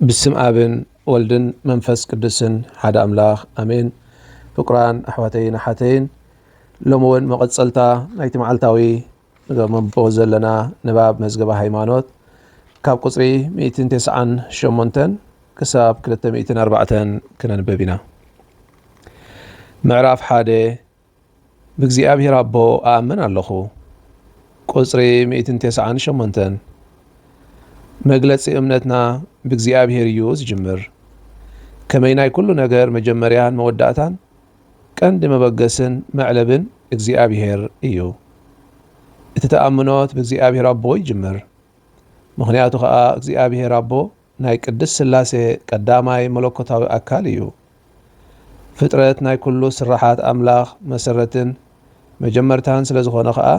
ብስም ኣብን ወልድን መንፈስ ቅዱስን ሓደ ኣምላኽ ኣሜን። ፍቁራን ኣሕዋተይን ኣሓተይን ሎሚ እውን መቐፀልታ ናይቲ መዓልታዊ እዞም ኣንብቦ ዘለና ንባብ መዝገበ ሃይማኖት ካብ ቁፅሪ 198 ክሳብ 204 ክነንበብ ኢና። ምዕራፍ ሓደ ብእግዚኣብሔር ኣቦ ኣኣምን ኣለኹ ቁፅሪ 198 መግለፂ እምነትና ብእግዚኣብሔር እዩ ዝጅምር ከመይ ናይ ኩሉ ነገር መጀመርያን መወዳእታን ቀንዲ መበገስን መዕለብን እግዚኣብሄር እዩ። እቲ ተኣምኖት ብእግዚኣብሄር ኣቦ ይጅምር። ምኽንያቱ ከኣ እግዚኣብሄር ኣቦ ናይ ቅድስት ሥላሴ ቀዳማይ መለኮታዊ ኣካል እዩ። ፍጥረት ናይ ኩሉ ስርሓት ኣምላኽ መሰረትን መጀመርታን ስለ ዝኾነ ከኣ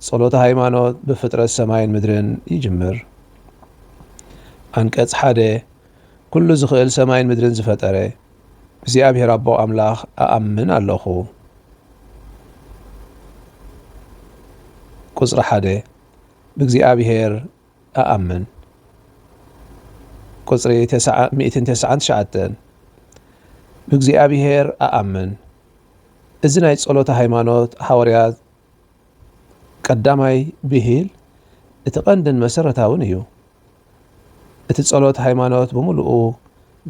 ጸሎተ ሃይማኖት ብፍጥረት ሰማይን ምድርን ይጅምር። ዓንቀጽ ሓደ ኩሉ ዝኽእል ሰማይን ምድርን ዝፈጠረ እግዚኣብሔር ኣቦ ኣምላኽ እኣምን ኣለኹ። ቁጽሪ ሓደ ብእግዚኣብሔር እኣምን። ቁጽሪ ሚእትን ተስዓን ትሽዓተን ብእግዚኣብሔር እኣምን። እዚ ናይ ጸሎተ ሃይማኖት ሃዋርያት ቀዳማይ ብሂል እቲ ቀንድን መሰረታውን እዩ። እቲ ጸሎት ሃይማኖት ብምሉኡ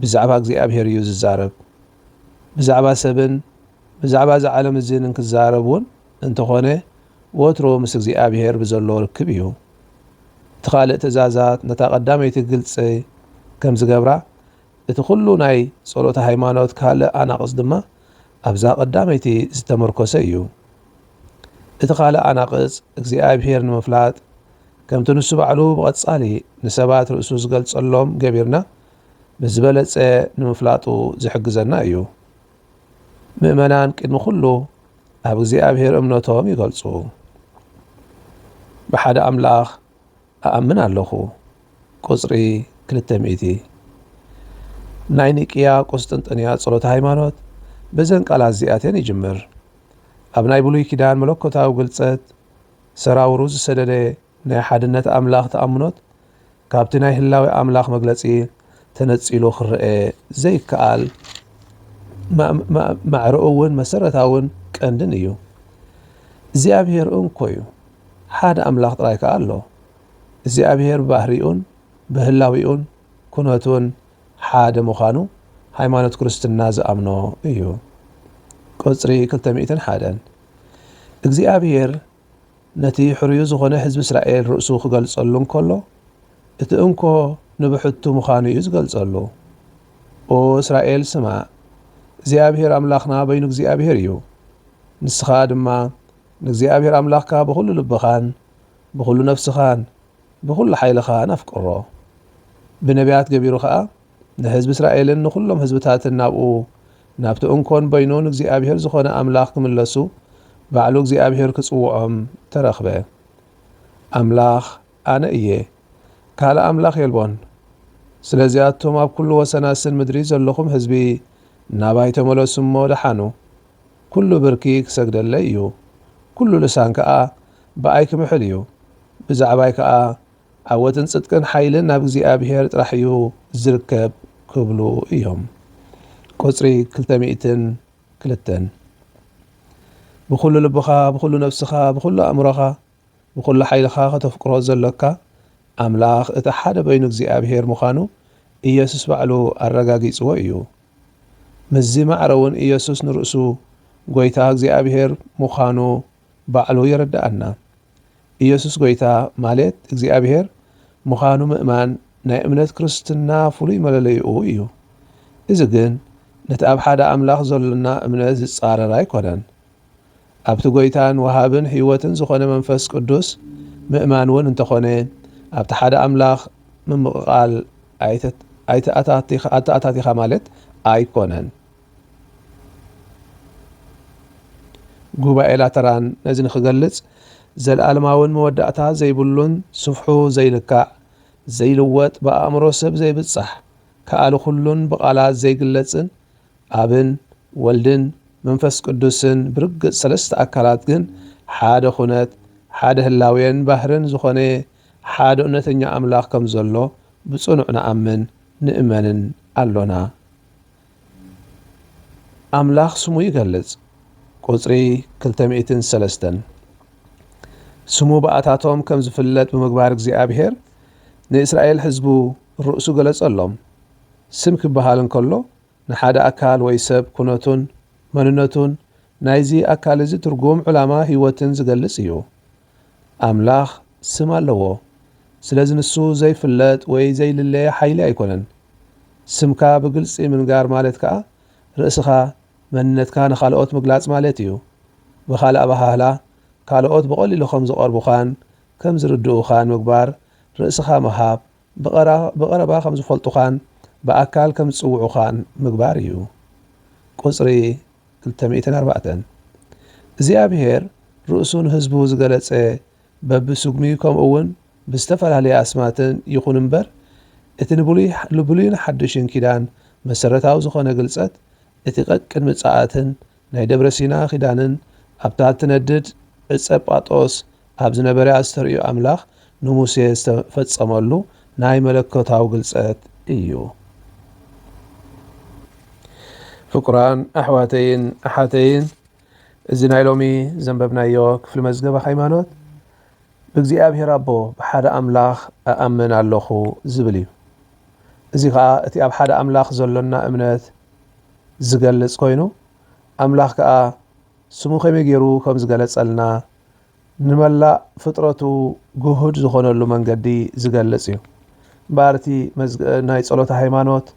ብዛዕባ እግዚኣብሔር እዩ ዝዛረብ። ብዛዕባ ሰብን ብዛዕባ እዛ ዓለም እዚን እንክዛረብ እውን እንተኾነ ወትሩ ምስ እግዚኣብሔር ብዘሎ ርክብ እዩ። እቲ ካልእ ትእዛዛት ነታ ቀዳመይቲ ግልጽ ከም ዝገብራ እቲ ኩሉ ናይ ጸሎተ ሃይማኖት ካልእ ኣናቕጽ ድማ ኣብዛ ቀዳመይቲ ዝተመርኮሰ እዩ። እቲ ኻልእ ኣናቕጽ እግዚኣብሔር ንምፍላጥ ከምቲ ንሱ ባዕሉ ብቐጻሊ ንሰባት ርእሱ ዝገልጸሎም ገቢርና ብዝበለጸ ንምፍላጡ ዝሕግዘና እዩ። ምእመናን ቅድሚ ኩሉ ኣብ እግዚኣብሔር እምነቶም ይገልጹ። ብሓደ ኣምላኽ እኣምን ኣለኹ ቁጽሪ ክልተ ሚእቲ ናይ ኒቅያ ቁስጥንጥንያ ጸሎተ ሃይማኖት በዘን ቃላት እዚኣተን ይጅምር። ኣብ ናይ ብሉይ ኪዳን መለኮታዊ ግልጸት ሰራውሩ ዝሰደደ ናይ ሓድነት ኣምላኽ ተኣምኖት ካብቲ ናይ ህላዌ ኣምላኽ መግለጺ ተነጺሉ ክረኤ ዘይከኣል ማዕረኡውን መሰረታውን ቀንድን እዩ። እግዚኣብሔር እንኮዩ ሓደ ኣምላኽ ጥራይ ከኣ ኣሎ። እግዚኣብሄር ብባህሪኡን ብህላዊኡን ኩነቱን ሓደ ምዃኑ ሃይማኖት ክርስትና ዝኣምኖ እዩ። ቁጽሪ ክልተ ሚእትን ሓደን። እግዚኣብሄር ነቲ ሕሩዩ ዝኾነ ህዝቢ እስራኤል ርእሱ ክገልጸሉ እንከሎ እቲ እንኮ ንብሕቱ ምዃኑ እዩ ዝገልጸሉ። ኦ እስራኤል ስማዕ፣ እግዚኣብሄር ኣምላኽና በይኑ እግዚኣብሄር እዩ። ንስኻ ድማ ንእግዚኣብሔር ኣምላኽካ ብዅሉ ልብኻን ብዅሉ ነፍስኻን ብዅሉ ሓይልኻን ኣፍቅሮ። ብነብያት ገቢሩ ኸኣ ንሕዝቢ እስራኤልን ንዅሎም ሕዝብታትን ናብኡ ናብቲ እንኮን በይኑን እግዚኣብሔር ዝኾነ ኣምላኽ ክምለሱ ባዕሉ እግዚኣብሔር ክጽውዖም ተረኽበ። ኣምላኽ ኣነ እየ፣ ካልእ ኣምላኽ የልቦን። ስለዚ ኣቱም ኣብ ኵሉ ወሰናስን ምድሪ ዘለኹም ሕዝቢ ናባይ ተመለሱ እሞ ድሓኑ። ኩሉ ብርኪ ክሰግደለይ እዩ፣ ኩሉ ልሳን ከኣ ብኣይ ክምሕል እዩ፣ ብዛዕባይ ከኣ ዓወትን ጽድቅን ሓይልን ናብ እግዚኣብሄር ጥራሕ እዩ ዚርከብ ክብሉ እዮም። ቁጽሪ ክልተ ሚእትን ክልተን ብኹሉ ልብኻ፣ ብኹሉ ነፍስኻ፣ ብኹሉ ኣእምሮኻ፣ ብኹሉ ሓይልኻ ከተፍቅሮ ዘሎካ ኣምላኽ እቲ ሓደ በይኑ እግዚኣብሔር ምዃኑ ኢየሱስ ባዕሉ ኣረጋጊጽዎ እዩ። ምስዚ ማዕረ እውን ኢየሱስ ንርእሱ ጐይታ እግዚኣብሔር ምዃኑ ባዕሉ የረድኣና። ኢየሱስ ጐይታ ማሌት እግዚኣብሔር ምዃኑ ምእማን ናይ እምነት ክርስትና ፍሉይ መለለይኡ እዩ። እዚ ግን ነቲ ኣብ ሓደ ኣምላኽ ዘሎና እምነት ዝጻረር ኣይኮነን። ኣብቲ ጐይታን ወሃብን ህይወትን ዝዀነ መንፈስ ቅዱስ ምእማን እውን እንተዀነ፣ ኣብቲ ሓደ ኣምላኽ ምምቕቓል ኣይተኣታቲኻ ማለት ኣይኰነን። ጉባኤ ላተራን ነዚ ንኽገልጽ፣ ዘለኣለማውን መወዳእታ ዘይብሉን ስፍሑ ዘይልካዕ፣ ዘይልወጥ፣ ብኣእምሮ ሰብ ዘይብጻሕ፣ ከኣሊ ዅሉን ብቓላት ዘይግለጽን ኣብን ወልድን መንፈስ ቅዱስን ብርግጽ ሰለስተ ኣካላት ግን ሓደ ኩነት፣ ሓደ ህላዌን ባህርን ዝኾነ ሓደ እውነተኛ ኣምላኽ ከም ዘሎ ብጽኑዕ ንኣምን ንእመንን ኣሎና። ኣምላኽ ስሙ ይገልጽ፣ ቁጽሪ ክልተ ሚእትን ሰለስተን። ስሙ ብኣታቶም ከም ዝፍለጥ ብምግባር እግዚኣብሔር ንእስራኤል ሕዝቡ ርእሱ ገለጸሎም። ስም ክበሃል እንከሎ ንሓደ ኣካል ወይ ሰብ ኩነቱን መንነቱን ናይዚ ኣካል እዚ ትርጉም ዕላማ ህይወትን ዝገልጽ እዩ። ኣምላኽ ስም ኣለዎ ስለዚ ንሱ ዘይፍለጥ ወይ ዘይልለየ ሓይሊ ኣይኮነን። ስምካ ብግልጺ ምንጋር ማለት ከኣ ርእስኻ መንነትካ ንኻልኦት ምግላጽ ማለት እዩ። ብኻልእ ኣበሃህላ ካልኦት ብቐሊሉ ከም ዝቐርቡኻን ከም ዝርድኡኻን ምግባር ርእስኻ ምሃብ ብቐረባ ከም ዝፈልጡኻን ብኣካል ከም ዝጽውዑኻን ምግባር እዩ። ቍጽሪ ክልተ ሚእትን ኣርባዕተን፣ እግዚኣብሄር ርእሱ ንህዝቡ ዝገለጸ በብስጉሚ ከምኡውን ብዝተፈላለየ ኣስማትን ይኹን እምበር፣ እቲ ንብሉይን ሓድሽን ኪዳን መሰረታዊ ዝዀነ ግልጸት እቲ ቀቅድሚ ጸኣትን ናይ ደብረ ሲና ኪዳንን ኣብታ እትነድድ ዕጸ ጳጦስ ኣብ ዝነበረ ኣስተርእዮ ኣምላኽ ንሙሴ ዝተፈጸመሉ ናይ መለኮታዊ ግልጸት እዩ። ፍቁራን ኣሕዋተይን ኣሓተይን፣ እዚ ናይ ሎሚ ዘንበብናዮ ክፍሊ መዝገበ ሃይማኖት፣ ብእግዚኣብሔር ኣቦ ብሓደ ኣምላኽ እኣምን ኣሎኹ ዝብል እዩ። እዚ ከኣ እቲ ኣብ ሓደ ኣምላኽ ዘሎና እምነት ዝገልጽ ኮይኑ፣ ኣምላኽ ከኣ ስሙ ከመይ ገይሩ ከም ዝገለጸልና፣ ንመላእ ፍጥረቱ ግሁድ ዝኾነሉ መንገዲ ዝገልጽ እዩ። እምበኣር እቲ ናይ ጸሎተ ሃይማኖት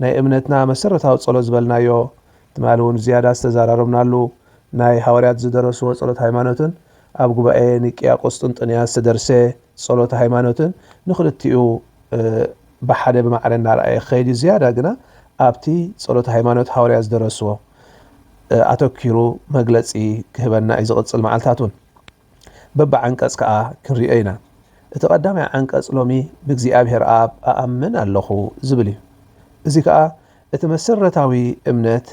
ናይ እምነትና መሰረታዊ ጸሎት ዝበልናዮ ትማሊ እውን ዝያዳ ዝተዘራረብናሉ ናይ ሃዋርያት ዝደረስዎ ጸሎት ሃይማኖትን ኣብ ጉባኤ ኒቅያ ቁስጥንጥንያ ዝተደርሰ ጸሎተ ሃይማኖትን ንክልቲኡ ብሓደ ብማዕረ እናርኣየ ክኸይድ እዩ፣ ዝያዳ ግና ኣብቲ ጸሎተ ሃይማኖት ሃዋርያት ዝደረስዎ ኣተኲሩ መግለጺ ክህበና እዩ፣ ዝቕጽል መዓልታት እውን በብዓንቀጽ ከኣ ክንርእዮ ኢና። እቲ ቀዳማይ ዓንቀጽ ሎሚ ብእግዚኣብሔር ኣብ እኣምን ኣለኹ ዝብል እዩ፣ እዚ ከኣ እቲ መሰረታዊ እምነት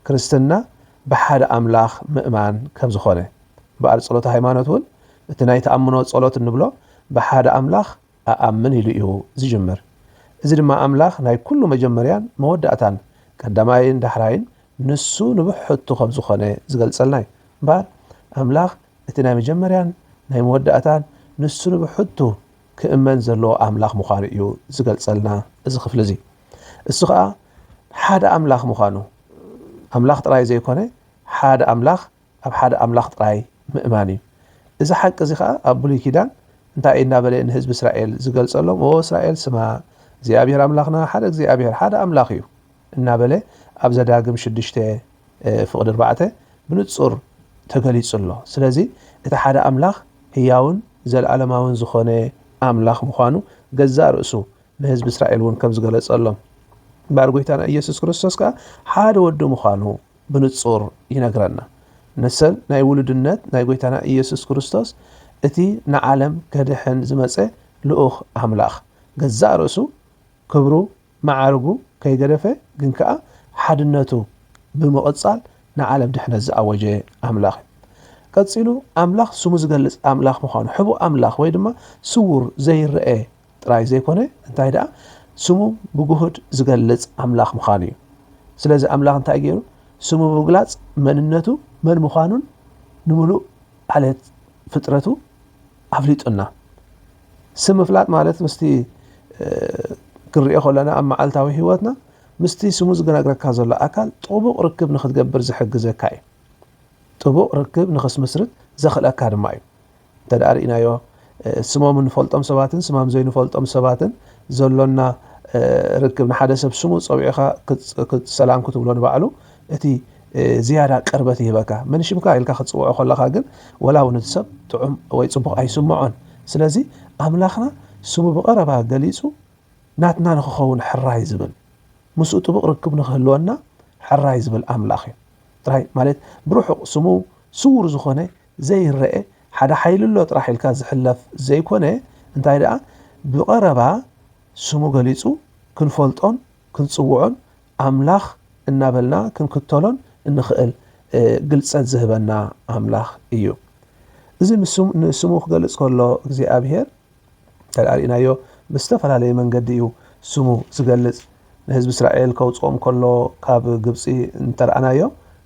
ክርስትና ብሓደ ኣምላኽ ምእማን ከም ዝኾነ፣ እምበኣር ጸሎተ ሃይማኖት እውን እቲ ናይ ተኣምኖ ጸሎት እንብሎ ብሓደ ኣምላኽ እኣምን ኢሉ እዩ ዝጅምር። እዚ ድማ ኣምላኽ ናይ ኩሉ መጀመርያን መወዳእታን፣ ቀዳማይን ዳሕራይን ንሱ ንብሕቱ ከም ዝኾነ ዝገልጸልና እዩ። እምበኣር ኣምላኽ እቲ ናይ መጀመርያን ናይ መወዳእታን ንሱ ንብሕቱ ክእመን ዘለዎ ኣምላኽ ምዃኑ እዩ ዝገልጸልና እዚ ክፍሊ እዚ። እሱ ከኣ ሓደ ኣምላኽ ምዃኑ ኣምላኽ ጥራይ ዘይኮነ ሓደ ኣምላኽ ኣብ ሓደ ኣምላኽ ጥራይ ምእማን እዩ። እዚ ሓቂ እዚ ኸኣ ኣብ ብሉይ ኪዳን እንታይ እዩ እናበለ ንህዝቢ እስራኤል ዝገልጸሎም ኦ እስራኤል ስማ እግዚኣብሄር ኣምላኽና ሓደ እግዚኣብሄር ሓደ ኣምላኽ እዩ እናበለ ኣብ ዘዳግም ሽዱሽተ ፍቕዲ ኣርባዕተ ብንጹር ተገሊጹ ኣሎ። ስለዚ እቲ ሓደ ኣምላኽ ህያውን ዘለኣለማውን ዝኾነ ኣምላኽ ምዃኑ ገዛእ ርእሱ ንህዝቢ እስራኤል እውን ከም ዝገለጸሎም እምበኣር ጎይታና ኢየሱስ ክርስቶስ ከኣ ሓደ ወዱ ምዃኑ ብንጹር ይነግረና። ንሰን ናይ ውሉድነት ናይ ጎይታና ኢየሱስ ክርስቶስ እቲ ንዓለም ከድሕን ዝመጸ ልኡኽ ኣምላኽ፣ ገዛእ ርእሱ ክብሩ መዓርጉ ከይገደፈ ግን ከኣ ሓድነቱ ብምቕጻል ንዓለም ድሕነት ዝኣወጀ ኣምላኽ እዩ። ቀጺሉ ኣምላኽ ስሙ ዝገልጽ ኣምላኽ ምዃኑ፣ ሕቡእ ኣምላኽ ወይ ድማ ስዉር ዘይረኤ ጥራይ ዘይኮነ እንታይ ደኣ ስሙ ብግሁድ ዝገልጽ ኣምላኽ ምዃኑ እዩ። ስለዚ ኣምላኽ እንታይ ገይሩ ስሙ ብምግላጽ መንነቱ መን ምዃኑን ንምሉእ ዓሌት ፍጥረቱ ኣፍሊጡና። ስም ምፍላጥ ማለት ምስቲ ክንሪኦ ከለና ኣብ መዓልታዊ ህይወትና ምስቲ ስሙ ዝገናግረካ ዘሎ ኣካል ጥቡቕ ርክብ ንክትገብር ዝሕግዘካ እዩ። ጥቡቕ ርክብ ንክስምስርት ዘኽእለካ ድማ እዩ። እንተድኣ ርኢናዮ ስሞም እንፈልጦም ሰባትን ስማም ዘይንፈልጦም ሰባትን ዘሎና ርክብ ንሓደ ሰብ ስሙ ጸዊዕኻ ሰላም ክትብሎ ንባዕሉ እቲ ዝያዳ ቅርበት ይህበካ መን ሽምካ ኢልካ ክትጽውዖ ከለኻ ግን ወላ እውን እቲ ሰብ ጥዑም ወይ ጽቡቕ ኣይስምዖን ስለዚ ኣምላኽና ስሙ ብቐረባ ገሊጹ ናትና ንክኸውን ሕራይ ዝብል ምስኡ ጥቡቕ ርክብ ንክህልወና ሕራይ ዝብል ኣምላኽ እዩ ጥራይ ማለት ብርሑቕ ስሙ ስውር ዝኾነ ዘይረኤ ሓደ ሓይሊ ኣሎ ጥራሕ ኢልካ ዝሕለፍ ዘይኮነ እንታይ ደኣ ብቐረባ ስሙ ገሊጹ ክንፈልጦን ክንጽውዖን ኣምላኽ እናበልና ክንክተሎን እንኽእል ግልጸት ዝህበና ኣምላኽ እዩ። እዚ ንስሙ ክገልጽ ከሎ እግዚኣብሔር፣ እንተርኢናዮ ብዝተፈላለየ መንገዲ እዩ ስሙ ዝገልጽ ንህዝቢ እስራኤል ከውጽኦም ከሎ ካብ ግብጺ እንተርኣናዮ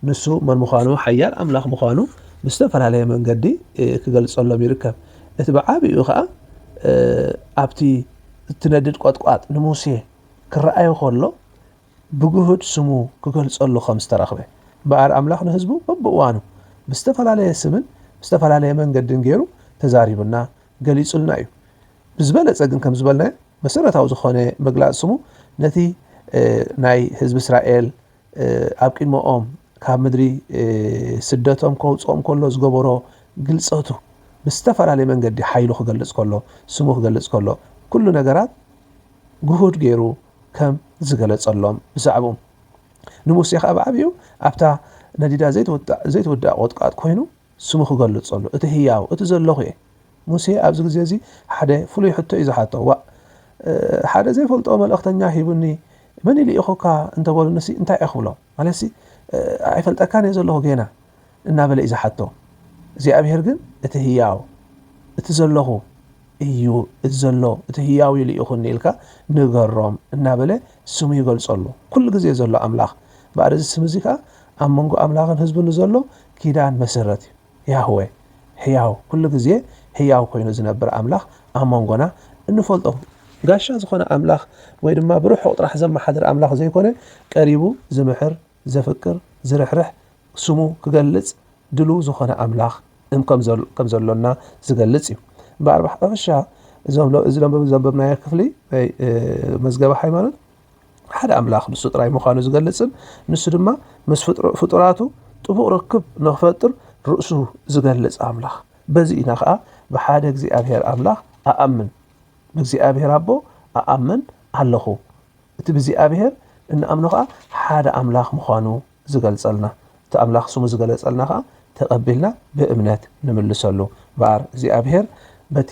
ንሱ መን ምዃኑ ሓያል ኣምላኽ ምዃኑ ብዝተፈላለየ መንገዲ ክገልጸሎም ይርከብ እቲ ብዓቢኡ ከኣ ኣብቲ እትነድድ ቆጥቋጥ ንሙሴ ክረኣዮ ከሎ ብግሁድ ስሙ ክገልጸሉ ከም ዝተረኽበ እምበኣር ኣምላኽ ንህዝቡ በብእዋኑ ብዝተፈላለየ ስምን ብዝተፈላለየ መንገድን ገይሩ ተዛሪቡና ገሊጹልና እዩ። ብዝበለጸ ግን ከም ዝበልናዮ መሰረታዊ ዝኾነ ምግላጽ ስሙ ነቲ ናይ ህዝቢ እስራኤል ኣብ ቅድመኦም ካብ ምድሪ ስደቶም ከውጽኦም ከሎ ዝገበሮ ግልጸቱ ምስ ዝተፈላለየ መንገዲ ሓይሉ ክገልጽ ከሎ ስሙ ክገልጽ ከሎ ኩሉ ነገራት ግሁድ ገይሩ ከም ዝገለጸሎም ብዛዕብኡ ንሙሴ ከዓ ብዓብኡ ኣብታ ነዲዳ ዘይትውዳእ ዘይትውዳእ ቆጥቃጥ ኮይኑ ስሙ ክገልጸሉ፣ እቲ ህያው፣ እቲ ዘሎኹ እየ። ሙሴ ኣብዚ ግዜ እዚ ሓደ ፍሉይ ሕቶ እዩ ዝሓቶ፣ ዋእ! ሓደ ዘይፈልጦ መልእኽተኛ ሂቡኒ፣ መን እዩ ልኢኹካ እንተ በሉኒሲ እንታይ እየ ክብሎም? ማለትሲ ኣይፈልጠካን እየ ዘሎኹ ጌና እናበለ እዩ ዝሓቶ። እግዚኣብሄር ግን እቲ ህያው፣ እቲ ዘሎኹ እዩ፣ እቲ ዘሎ፣ እቲ ህያው እዩ ልኢኹኒ ኢልካ ንገሮም እናበለ ስሙ ይገልጸሉ። ኩሉ ግዜ ዘሎ ኣምላኽ ባዕዲ እዚ ስም እዚ ከኣ ኣብ መንጎ ኣምላኽን ህዝቡን ንዘሎ ኪዳን መሰረት እዩ። ያህወ፣ ሕያው፣ ኩሉ ግዜ ሕያው ኮይኑ ዝነብር ኣምላኽ ኣብ መንጎና እንፈልጦ፣ ጋሻ ዝኾነ ኣምላኽ ወይ ድማ ብርሑቕ ጥራሕ ዘመሓድር ኣምላኽ ዘይኮነ፣ ቀሪቡ ዝምሕር፣ ዘፍቅር፣ ዝርሕርሕ፣ ስሙ ክገልጽ ድሉው ዝኾነ ኣምላኽ ከም ዘሎና ዝገልጽ እዩ። እምበኣር ብሓፈሻ እዚ ዘንበብናዮ ክፍሊ ናይ መዝገበ ሃይማኖት፣ ሓደ ኣምላኽ ንሱ ጥራይ ምዃኑ ዝገልጽን ንሱ ድማ ምስ ፍጡራቱ ጥቡቕ ርክብ ንኽፈጥር ርእሱ ዝገልጽ ኣምላኽ በዚ ኢና ኸኣ ብሓደ እግዚኣብሔር ኣምላኽ ኣኣምን ብእግዚኣብሔር ኣቦ ኣኣምን ኣለኹ እቲ ብእግዚኣብሔር እንኣምኖ ኸኣ ሓደ ኣምላኽ ምዃኑ ዝገልጸልና እቲ ኣምላኽ ስሙ ዝገለጸልና ከኣ ተቀቢልና ብእምነት ንምልሰሉ እምበኣር እግዚኣብሄር በቲ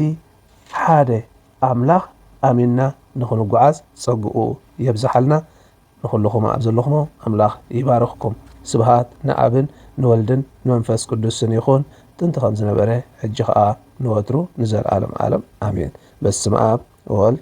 ሓደ ኣምላኽ ኣሚንና ንኽንጉዓዝ ጸግኡ የብዝሓልና ንኹልኹም ኣብ ዘለኹሞ ኣምላኽ ይባርኽኩም ስብሃት ንኣብን ንወልድን ንመንፈስ ቅዱስን ይኹን ጥንቲ ከምዝነበረ ሕጂ ከኣ ንወትሩ ንዘልኣለም ኣለም ኣሜን በስመኣብ ወወልድ